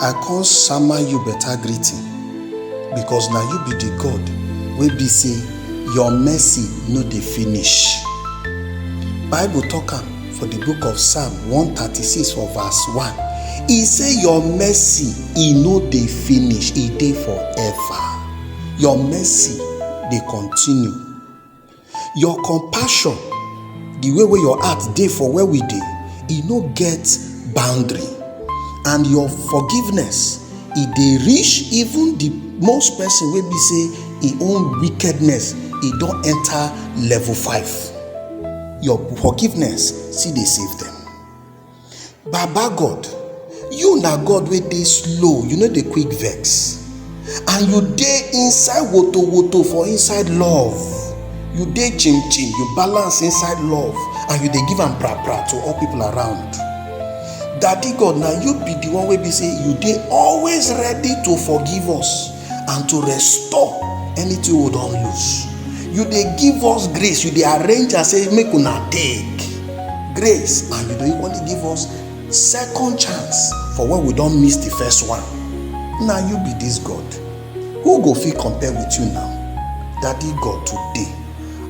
I come sama you better greeting because na you be the God wey be say your mercy no dey finish. Bible talk am for the book of Psalm 136 for verse 1. E say your mercy e no dey finish, e dey forever. Your mercy dey continue your compassion di way wey your heart dey for where we dey e no get boundary and your forgiveness e dey reach even di most person wey be say e own wickedness e don enter level five your forgiveness still dey save them. baba god you na god wey dey slow you no dey quick vex and you dey inside woto woto for inside love you dey chim chim you balance inside love and you dey give am pra pra to all people around daddy god na you be the one wey be say you dey always ready to forgive us and to restore anything we don lose you dey give us grace you dey arrange and say make una take grace and you dey equally give us second chance for when we don miss the first one na you be this god who go fit compare with you now daddy god today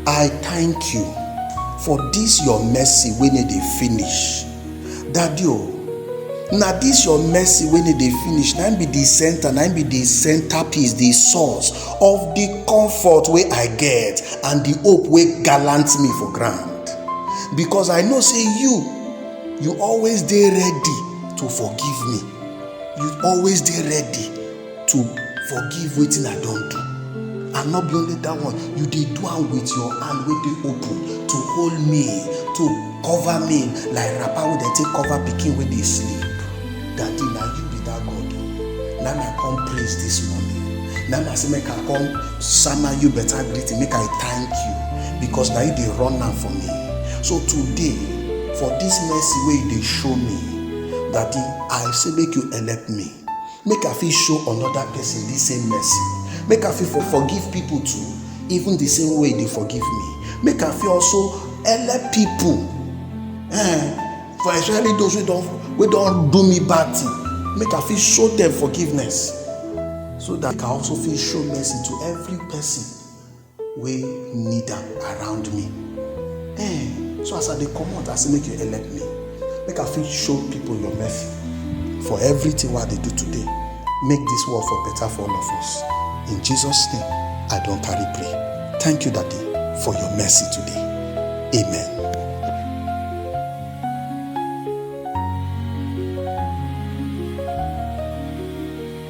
i thank you for this your mercy wey no dey finish daddy o oh, na this your mercy wey no dey finish na be the center na be the center piece the source of the comfort wey i get and the hope wey gallant me for ground because i know say you you always dey ready to forgive me you always dey ready to forgive wetin i don do and not be only that one you dey do am with your hand wey dey open to hold me to cover me like wrapper wey dem take cover pikin wey dey sleep daddy na you be that god o na my come praise this morning na my say make i come sama you better greeting make i thank you because na you dey run am for me so today for this mercy wey you dey show me daddy i say make you help me make i fit show another person this same mercy make i fit for forgive people too even the same way they forgive me make i fit also help people eh for especially those wey don wey don do me bad thing make i fit show them forgiveness so that i also fit show mercy to every person wey need am around me eh so as i dey comot i say make you help me make i fit show people your mercy for everything wey i dey do today make this world for better for all of us in jesus name i don carry pray thank you daddy for your mercy today amen.